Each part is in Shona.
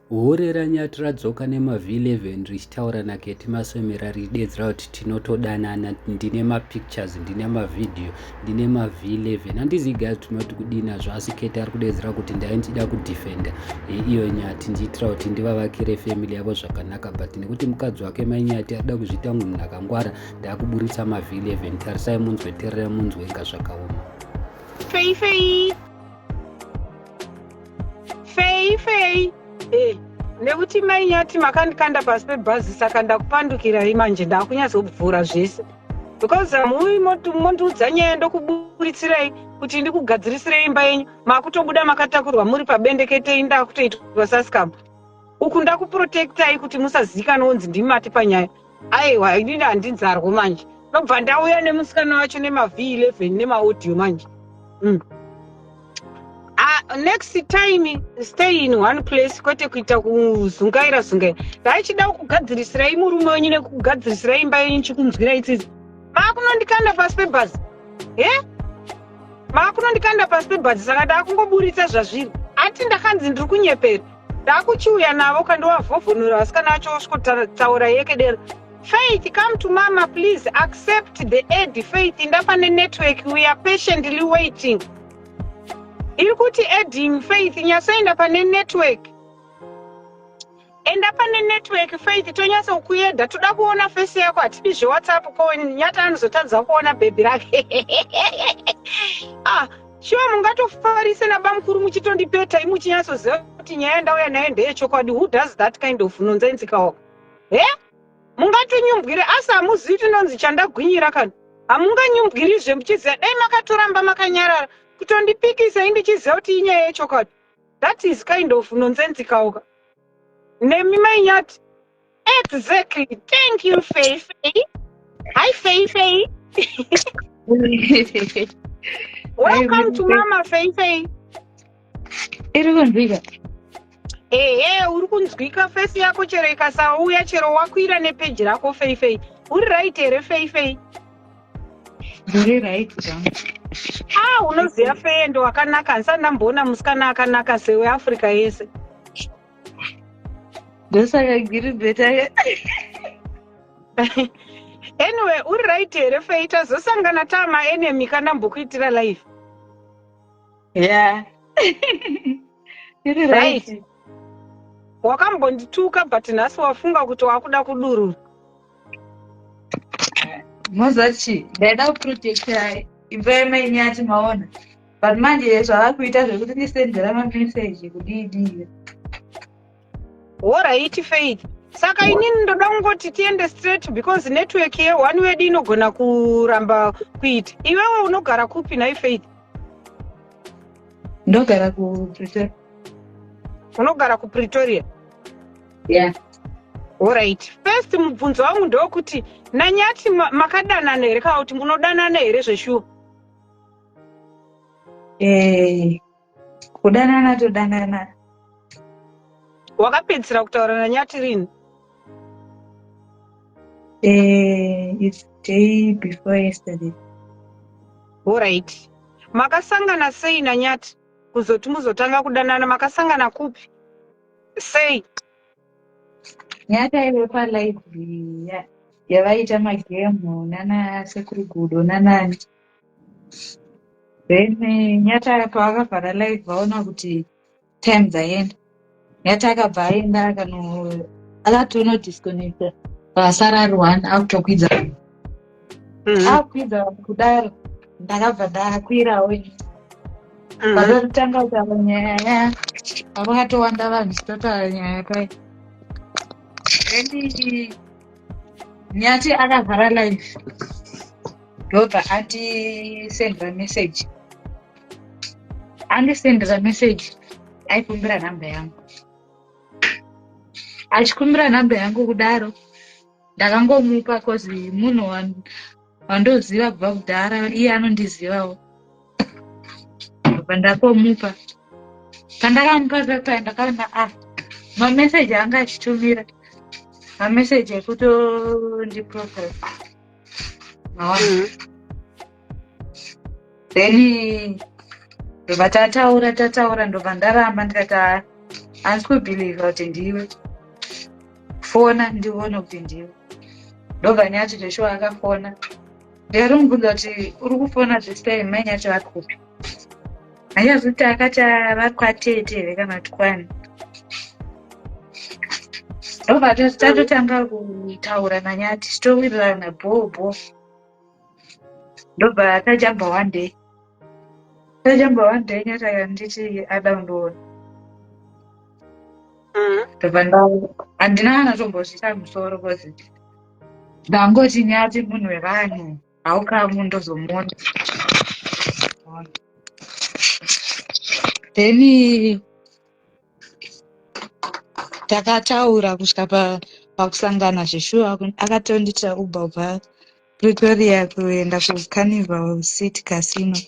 Hure ranyati radzoka nemav 11 richitaura naketi maswemera ridedzera kuti tinotodanana ndine mapictures ndine mavhidhiyo ndine mav 11 handizi guys tinoti kudii nazvo asi keti ari kudedzera kuti ndaindida kudefenda yeiyo nyati ndiitira kuti ndivavakire family yavo zvakanaka but nekuti mukadzi wake mainyati arida kuzviita munhu akangwara ndaakuburitsa mav 11 tarisai munzwe terera munzwe inga zvakaoma fei fei fei fei hey. nekuti mai nyati makandikanda pasi pebhazi saka ndakupandukirai manje ndakunyazobvura zvese because hamuyi mondiudza nyaya ndokuburitsirei kuti ndikugadzirisirei imba yenyu makutobuda makatakurwa muri pabendeketei ndakutoitwa sasikamba uku ndakuprotectai kuti musazikanwa onzi ndimati panyaya Aiwa inini handinzarwo manje. Ndobva ndauya nemusikana wacho nema V11 nema audio manje. Mm. Uh, next time stay in one place kwete kuita kuzungaira zungaira. Ndaichida kugadzirisirai murume wenyu nekugadzirisirai imba yenyu chikunzwirai tsitsi. Makunondikanda pasi pebhazi. He? Eh? Makunondikanda pasi pebhazi saka ndakungoburitsa zvazviri. Ati ndakanzi ndiri kunyepera. Ndakuchiuya navo kandovavhovhonora vasikana vacho vosvikotaura yekedera. Faith, come to mama please accept the aid. Faith, ndapane network we are patiently waiting. Iri kuti adding Faith nyasoenda pane network. Enda pane network Faith tonyasa kukueda toda kuona face yako hatipi zveWhatsApp ko nyata anozotadza kuona baby rake. ah Shuwa mungatofarise nabamukuru muchitondipeta imu chinyatsoziva kuti nyaya ndauya nayo ndeyechokwadi who does that kind of nonsense kaoka he mungatonyumbwire asi hamuzivi kuti nonzi chandagwinyira kana hamunganyumbwirizve muchiziva dai makatoramba makanyarara kutondipikisa indichiziva kuti inyaya yechokwadi that is kind of nonsense kaoka nemi mainyati Exactly. Thank you, Faye Faye. Hi, Faye Faye. Welcome to Mama Faye Faye. Iri kunzwika. Ehe, uri kunzwika face yako chero ikasauya chero wakwira nepeji rako Faye Faye. Uri right here Faye Faye. Uri right. Ah, unoziva Faye ndo wakanaka. Handisati ndamboona musikana akanaka sewe Africa yese. ndosaka giri beta anyway uri right here fei tazosangana tama enemy kana mbokuitira life yeah iri right wakambondituka but nhasi wafunga kuti wakuda kudurura mozachi ndaida kuprotecta imba yamaini yati maona but manje zvavakuita zvekuti ndisendera mameseji kudiidii horaiti faith saka inini ndoda kungoti tiende straight because network yeone wedu inogona kuramba kuita iwewe unogara kupi nhai faith ndogara kupretoria unogara kupretoria yeah. Alright. First mubvunzo wangu ndokuti nanyati makadanana here kana kuti munodanana here zveshuwa? Eh, kudanana todanana. Wakapedzisira kutaura nanyati rini? Eh, it's day before yesterday. Alright. Makasangana sei nanyati kuzoti muzotanga kudanana makasangana kupi? sei nyata ive palibrary ya- yavaiita magemu nana sekuru gudo nanani then eh, nyata pavakavhara live vaona kuti time dzaenda nyata akabva aenda akano akatonodisconnecta pasara ari one akutokwidza mm-hmm. akwidza kudaro ndakabva ndakwirawo mm-hmm. vakatanga kutaura nyaya ya vakatowanda vanhu chitotaura nyaya pai and nyati akavhara life ndobva andisendera message andisendera message aikumbira nhamba yangu achikumbira nhamba yangu kudaro ndakangomupa cause munhu wandoziva kubva kudhara iye anondizivawo bva ndakomupa pandakamupa zvakaya ndakaona a ah, mameseji anga achitumira mameseji ekutondiprofesa maona mm -hmm. then ndobva tataura tataura ndobva ndaramba ndikati haa handisi kubhilivha kuti ndiwe fona ndione kuti ndiwe ndobva nyati zveshuwa akafona ndiyari mubvunza kuti uri kufona zvesitime mai nyati vari kupi hanyazi kuti akati vari kwatete here kana kuti kwani ndobva tatotanga kutaura nanyati titowirirana bhoo bhoo ndobva tajamba one day tajamba one day nyata kanditi ada kundiona mm-hmm. ndobva nda handina kana tombozvita musoro kozi ndangoti nyati munhu wevanhu haukamu ndozomuona then takataura kusvika pakusangana zveshuwa akatondiitira uber ubva pretoria kuenda kucarnival city casino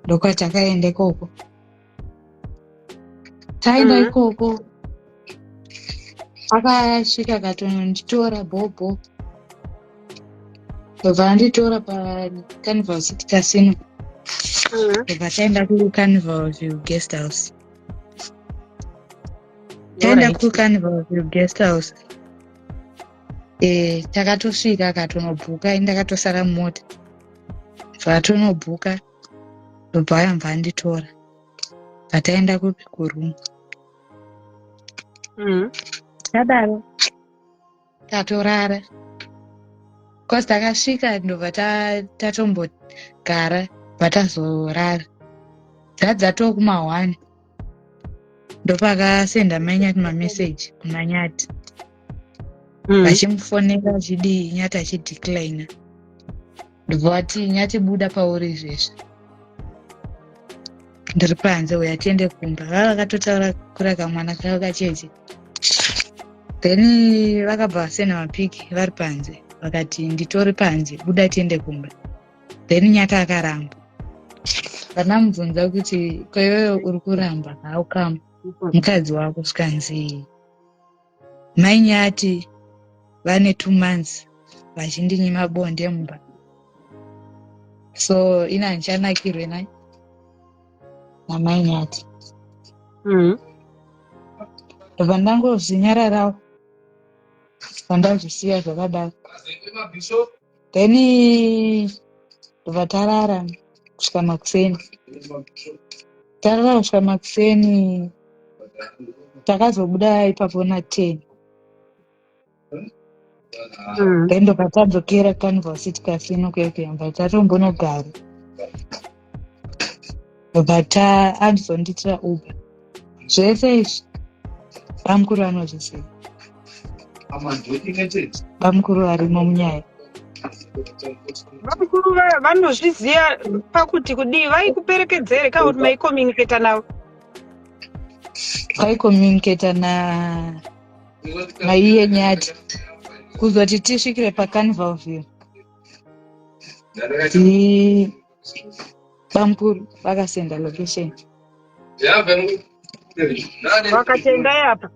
ndokwatakaenda ikoko taenda mm-hmm. ikoko akasvika akatononditora bhobho ndobva anditora pacarnival city casino ndobva taenda kucarnival view guest house taenda kucarnival view guest house e takatosvika akatonobhuka ini ndakatosara mumota zvatonobhuka ndobva ayambva anditora bva taenda kupi kuroom mm. tadaro tatorara bcause takasvika ndobva tatombogara bva tazorara dzadzatoo kuma one ndopakasenda manyati mameseji kumanyati mm. vachimufonera achidii nyati achideclina ndobva vati nyati buda pauri izvezvi ndiri panze uya tiende kumba vava vakatotaura kura kamwana kavo kacheche then vakabva vasena mapiki vari panze vakati nditori panze buda tiende kumba then nyata akaramba vanamubvunza kuti kwaiweyo uri kuramba haukamba mukadzi wako skanzii Mai Nyati vane two months vachindinyima bonde mumba so ini handichanakirwe nai namai Nyati mm. ndobva ndangozvinyararawo vandazvisiya zvakadaro then ndobva tarara kusvika makuseni tarara kusvika makuseni takazobuda ipapo na ten then ndobva tadzokera canvas tikasino kuyakuyamba tatombonogara but anzondiitira uber zvese izvi bamukuru anozviziva bamukuru varimo munyaya vakuru vaya vanozviziva pakuti kudii vaikuperekedzere ka kuti maicommunicata navo vaicommunicata na maiye nyati kuzoti tisvikire pacanvalville bamkuru vakasenda location vakatendai apa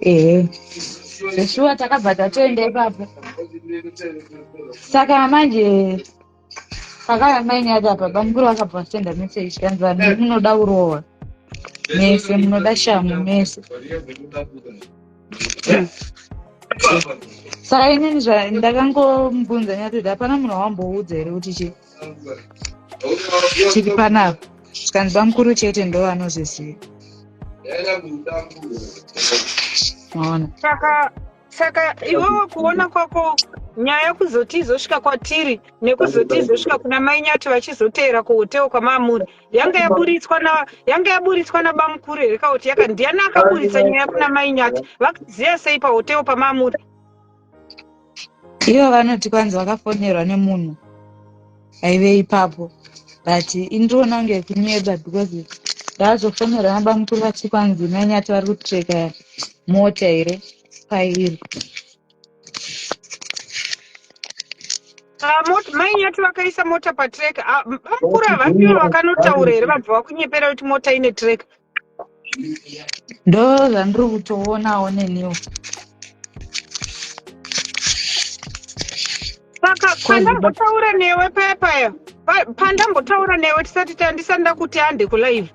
ehe zveshuwa takabva tatoenda ipapo saka manje pakaya maini acho apa bamkuru vakabva vasenda mese ichikanzi vanhu munoda urowa mese munoda shamu mese saka inini zvandakangombunza nyatoti hapana munhu wamboudza here kuti chii chiri panapa zvikanzi vamukuru chete ndo vanozviziva maona saka iwewe kuona kwako nyaya kuzoti izosvika kwatiri nekuzoti izosvika kuna mai nyati vachizoteera kuhotewo kwamaamuri yanga yaburitswa na yanga yaburitswa na bamukuru here ka kuti yaka ndiani akaburitsa nyaya kuna mai nyati vakaziva sei pahoteo pamamuri ivo vanoti kwanzi vakafonerwa nemunhu aive ipapo but indiriona kunge kunyeba because ndaazofonerwa nabamukuru vati kwanzi mai nyati vari kutreka mota here pairi Ah, mai nyati vakaisa mota patrek ah, bamukuru havafiwo vakanotaura here vabva vakunyepera kuti mota ine trek ndo zvandiri kutoonawo neniwo saka pandambotaura newe paya paya pandambotaura newe tisati tandisati ndakuti hande kulive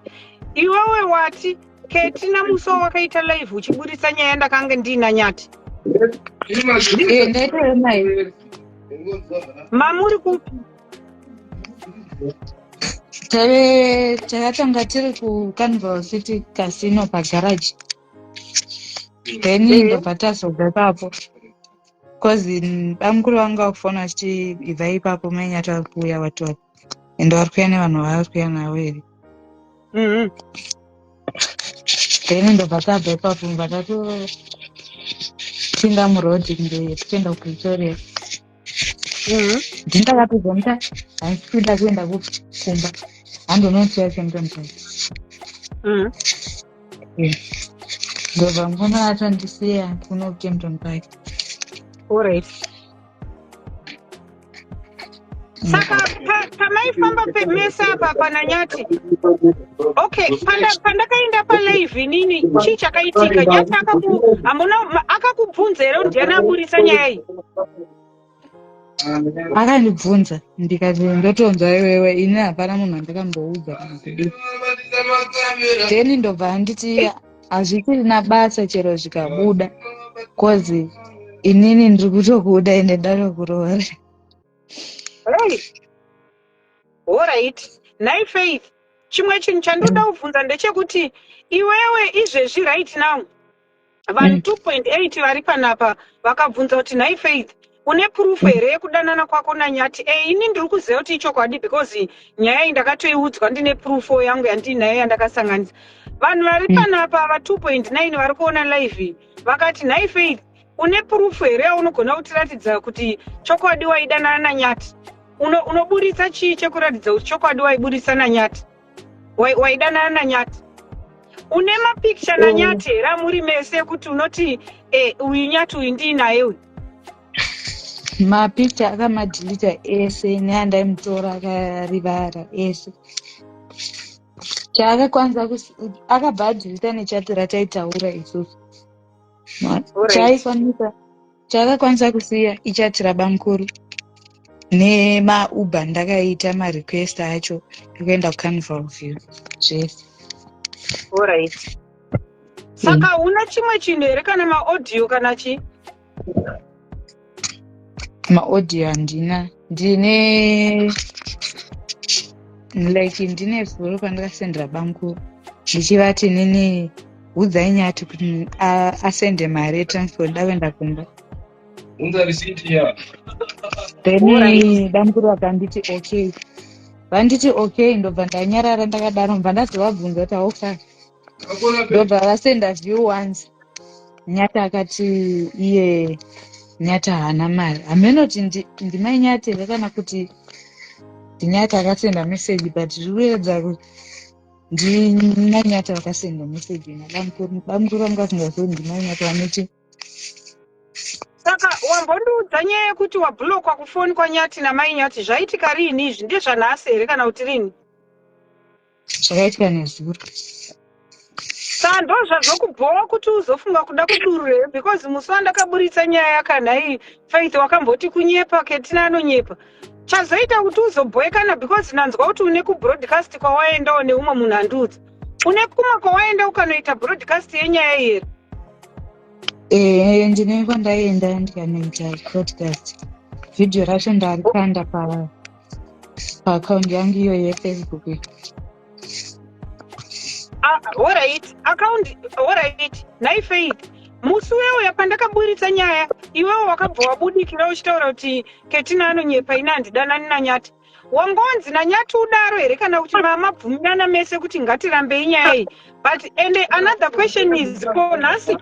iwewe wati keti namuso wakaita live uchiburitsa nyaya ndakange ndiina nyati mamuri kupi takatanga tiri kucanval city casino pagaraji then ndobva tazobva ipapo cause bamukuru vanga vakufona vachiti ibva ipapo mainyati vari kuuya vati vati ende vari kuya nevanhu vavari kuya navo here mm-hmm. then ndobva tabva ipapo vatopinda muroad kunge tichienda kupretoria mm-hmm. ndindakatobva muta handisikuda kuenda kumba handonoti yachemtomtai mm-hmm. ndobva mukoma atondisiya kuno kukempton park orit saka pamaifamba pemese apa pananyati okay pandakaenda palive inini chii chakaitika nyati akaku hambona akakubvunza here ndiani aburitsa nyaya iyi akandibvunza ndikati ndotonzwa iwewe ini hapana munhu andakamboudza kana kudii then ndobva anditi hazvisirina basa chero zvikabuda bcause inini ndiri kutokuda ende ndatokuroora orit nhai faith chimwe chinhu chandoda kubvunza ndechekuti iwewe izvezvi right now Vanhu mm. 2.8 vari panapa vakabvunza kuti nhai Faith une proof mm. here yekudanana kwako nanyati e eh, ini ndiri kuziva kuti ichokwadi because nyaya iyi ndakatoiudzwa ndine proof yangu yandiinayo yandakasanganisa vanhu vari mm. panapa va 2.9 vari kuona live vakati nhai Faith une proof here yaunogona kutiratidza kuti chokwadi waidanana nanyati unoburitsa chii chekuratidza kuti chokwadi waiburitsa nanyati waidanana nanyati une mapikicha mm. nanyati here amuri mese kuti unoti eh, uyu nyati uyu ndii naye uyu mapikicha akamadhilita ese neandaimutora akarivara ese chaakakwanisa akabva adhilita nechati rataitaura isusu chaikwanisa Chakakwanisa kusiya ichati rabamkuru nemauber ndakaita marequest acho ekuenda kucarnival view zvese orit saka mm. una chimwe chinhu here kana maaudio kana chii maaudio handina ndine like ndine zuro pandakasendera bangu ndichivati nini udzai nyati kuti asende mari yetransfer ndakuenda kumba then bamukuru vakanditi okay vanditi okay ndobva ndanyarara ndakadaro mva ndazovabvunza kuti hauka ndobva vasenda view once nyata akati iye nyata haana mari hameno kuti ndimai nyata here kana kuti ndinyata akasenda meseji but zviri kuyeredza kuti ndimai nyata vakasenda meseji nabamukuru vanga vasingazoi ndimai nyata vanoti saka wambondiudza nyaya yekuti wabhulokwa kufoni kwanyati namai nyati zvaitika riini izvi ndezvanhasi here kana kuti riini zvakaitika nezuro Saka ndozvazvokubhowa kuti uzofunga kuda kudurura here because musi wandakaburitsa nyaya yakanhai Faith wakamboti kunyepa Ketina anonyepa. Chazoita kuti uzobhoekana because ndanzwa kuti une kubroadcast kwawaendawo neumwe munhu andiudza. Une kumwe kwawaenda ukanoita broadcast yenyaya iyi here? Eh, ndine kwandaenda ndikanoita podcast video racho ndalikanda pa Account yangu iyo yeFacebook. Ah, all right. Account, all right. Nai Faith. Musi weuya pandakaburitsa nyaya, iwewe wakabva wabudikira uchitaura kuti Ketina anonyepa ini handidanani naNyati. Wangonzi naNyati udaro here kana kuti mamabvumirana mese kuti ngatirambei nyaya iyi. But and another question is ko nhasi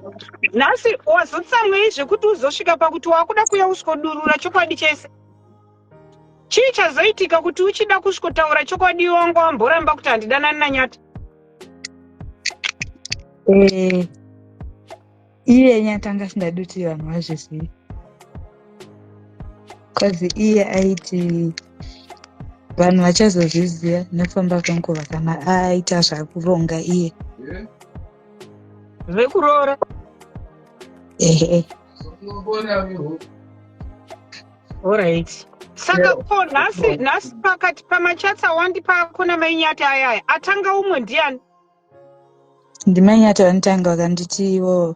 nhasi wazotsamwei zvekuti uzosvika pakuti wakuda kuya usiko durura chokwadi chese. Chii chazoitika kuti uchida kusvikotaura chokwadi iwe wanga wamboramba kuti handidanani naNyati? Eh, iye Nyati anga asingadi kuti vanhu vazvizive. Cause iye aiti vanhu vachazozviziva nekufamba kwenguva kana aita zvakuronga iye. Zvekuroora? Ehe. Alright. Saka ko nhasi nhasi pakati pamachats awandipa ako namainyati ayaya atanga umwe ndiani? Ndimainyati vanotanga vakanditi ivo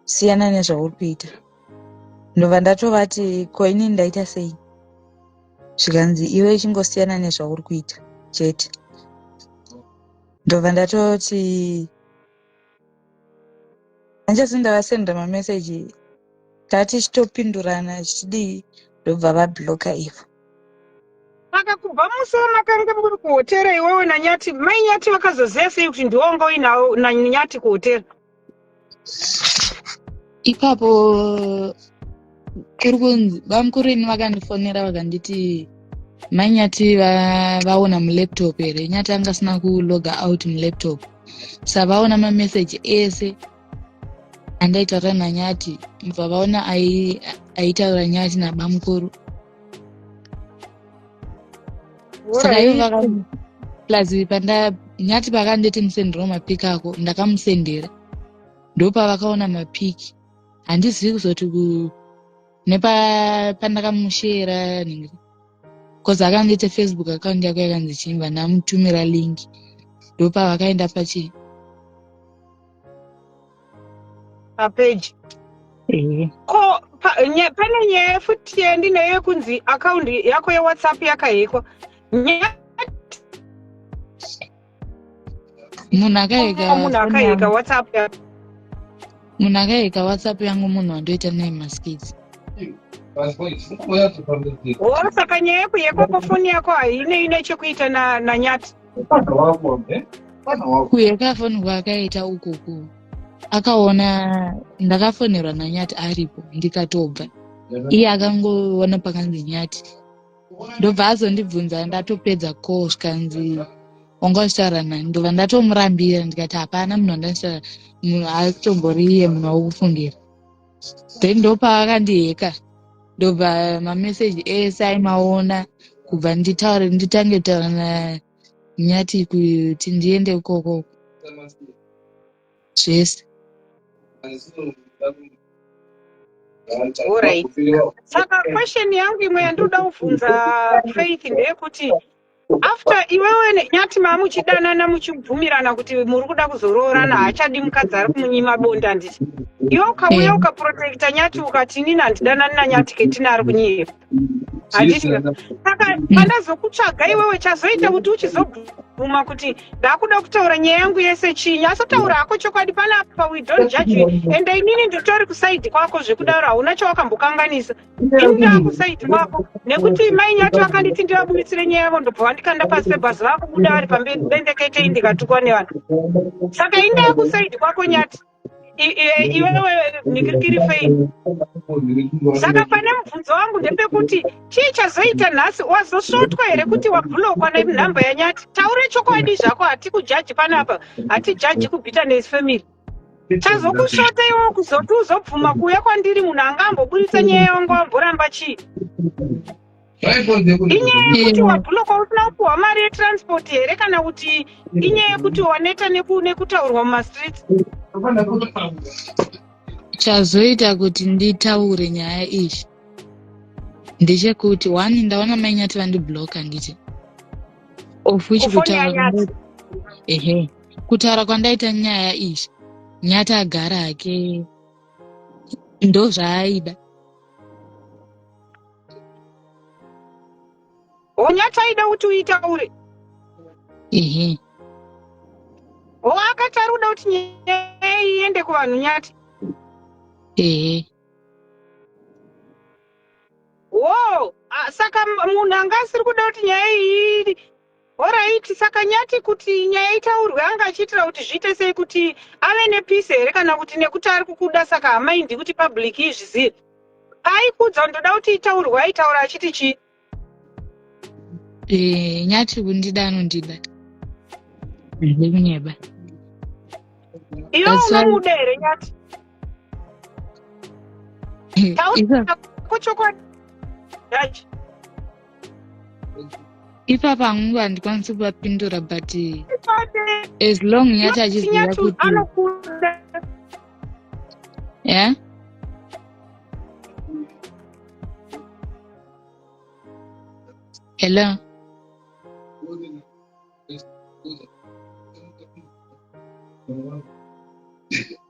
siyana nezvauri kuita. Ndobva ndatovati ko inini ndaita sei? Zvikanzi iwe ichingosiyana nezvauri kuita chete. Ndobva ndatoti hanjesi ndavasenda mameseji tati chitopindurana chichidii ndobva vabloka ivo saka kubva musi wamakanga muri kuhotera iwewo nanyati mai nyati vakazoziva sei kuti ndiwonga uinawo nanyati kuhotera ipapo kuri kunzi bamukuru ini vakandifonera vakanditi mai nyati vaona mulaptop here nyati anga asina kuloga out mulaptop sa vaona mameseji ese andaitaura nanyati mva vaona aitaura nyati nabamukuru saka ivo vakaplus panda nyati pakanditi musendiro mapikako ndakamusendera ndopavakaona mapiki handizivi kuzoti nepandakamushera nhingi bcause akandiita facebook account yako yakanzi chimba ndamutumira link ndopavakaenda pachii papeji eh. ko pane nyaya futi yandinayo yekunzi akaundi yako yewhatsapp yakahekwa nyaya munhu akayeka munhu akayeka whatsapp yangu munhu akayeka whatsapp yangu munhu wandoita naye maskits wo saka nyaya yekuyekwa kwefoni yako haine ine chekuita nanyati kuyeka foni kwaakaita ukuku akaona ndakafonerwa nanyati aripo ndikatobva iye akangoona pakanzi nyati ndobva azondibvunza ndatopedza ko zvikanzi wanga uchitaura nani ndobva ndatomurambira ndikati hapana munhu wandanditaura munhu atombori iye munhu wakufungira then ndopaakandiheka ndobva mameseji ese aimaona kubva nditaure nditange kutaura nanyati kuti ndiende ikoko zvese Alright. Saka question yangu imwe yandinoda kuvhunza Faith ndeyekuti after iwewe ne- nyati mamuchidanana muchibvumirana kuti muri kuda kuzoroorana haachadi mukadzi ari kumunyima bonde handiti iwe ukauya Eh. ukaprotecta nyati ukati inini handidanani nanyati ketina ari kunyepa handiti saka pandazokutsvaga iwewe chazoita kuti uchizobvuma kuti ndakuda kutaura nyaya yangu yese chii nyasotaura hako chokwadi panapa we don't judge you and inini nditori kusaidi kwako zvekudaro hauna chawakambokanganisa ini ndava kusaidi kwako nekuti mai nyati vakanditi ndivabuditsire nyaya yavo ndobva vandikanda pasi pebhazi vakubuda vari pamberi bendekete indikatukwa nevanhu saka ini ndava kusaidi kwako nyati iwewe mikirikiri fei saka pane mubvunzo wangu ndepekuti chii chazoita nhasi wazosvotwa here kuti wabhulokwa nenhamba yanyati taure chokwadi zvako hatikujaji pano apa hatijaji kubitterness family chazokusvota iwo kuzoti uzobvuma kuuya kwandiri munhu anga amboburitsa nyaya yangu amboramba chii inyaya yekuti wabhulokwa usina kupuhwa mari yetransport here kana kuti inyaya yekuti waneta nekutaurwa mumastreets chazoita kuti nditaure nyaya iyi ndechekuti one ndaona mainyati vandibloka nditi of which kutaura ehe kutaura kwandaita nyaya iyi nyati agara hake ndozvaaida unyataida kuti uitaure ehe ho akati ari kuda kuti nyaya iende kuvanhu nyati ehe wo saka munhu anga asiri kuda kuti nyaya iyi Horaiti saka Nyati kuti nyaya itaurwe anga achiitira kuti zviite sei kuti ave nepeace here kana kuti nekuti ari kukuda saka hamaindi kuti public izvizive? Paaikuudza kuti ndoda kuti itaurwe aitaura achiti chii? Eh, Nyati kundida anondida. Handikunyeba. Iwe That's why- unomuda here Nyati? ipapa hangu handikwanisi kuvapindura but as long yati achiziva kuti yeah? hello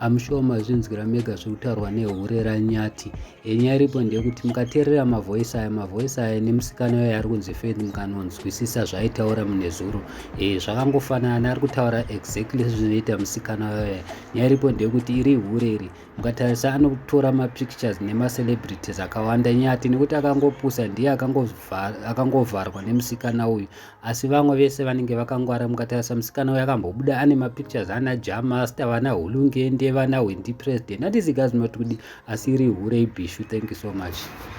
amushuwa mazvinzwira mega zviri kutaurwa nehure ranyati yenyaya iripo ndeyekuti mukateerera mavhoisi aya mavhoisi aya nemusikana uyo ari kunzi fed mukanonzwisisa zvaaitaura munezuro e eh, zvakangofanana ari kutaura exactly zvinoita musikana uyoya nyaya iripo ndeyekuti iri hure iri mukatarisa anotora mapictures nemacelebrities akawanda nyati nekuti akangopusa ndiye akangovharwa nemusikana uyu asi vamwe vese vanenge vakangwara mukatarisa musikana uyo akambobuda ane mapictures ana jamasta vana hulungende vana hwendi president handisi gazimati kudi asi iri hure ibhishu thank you so much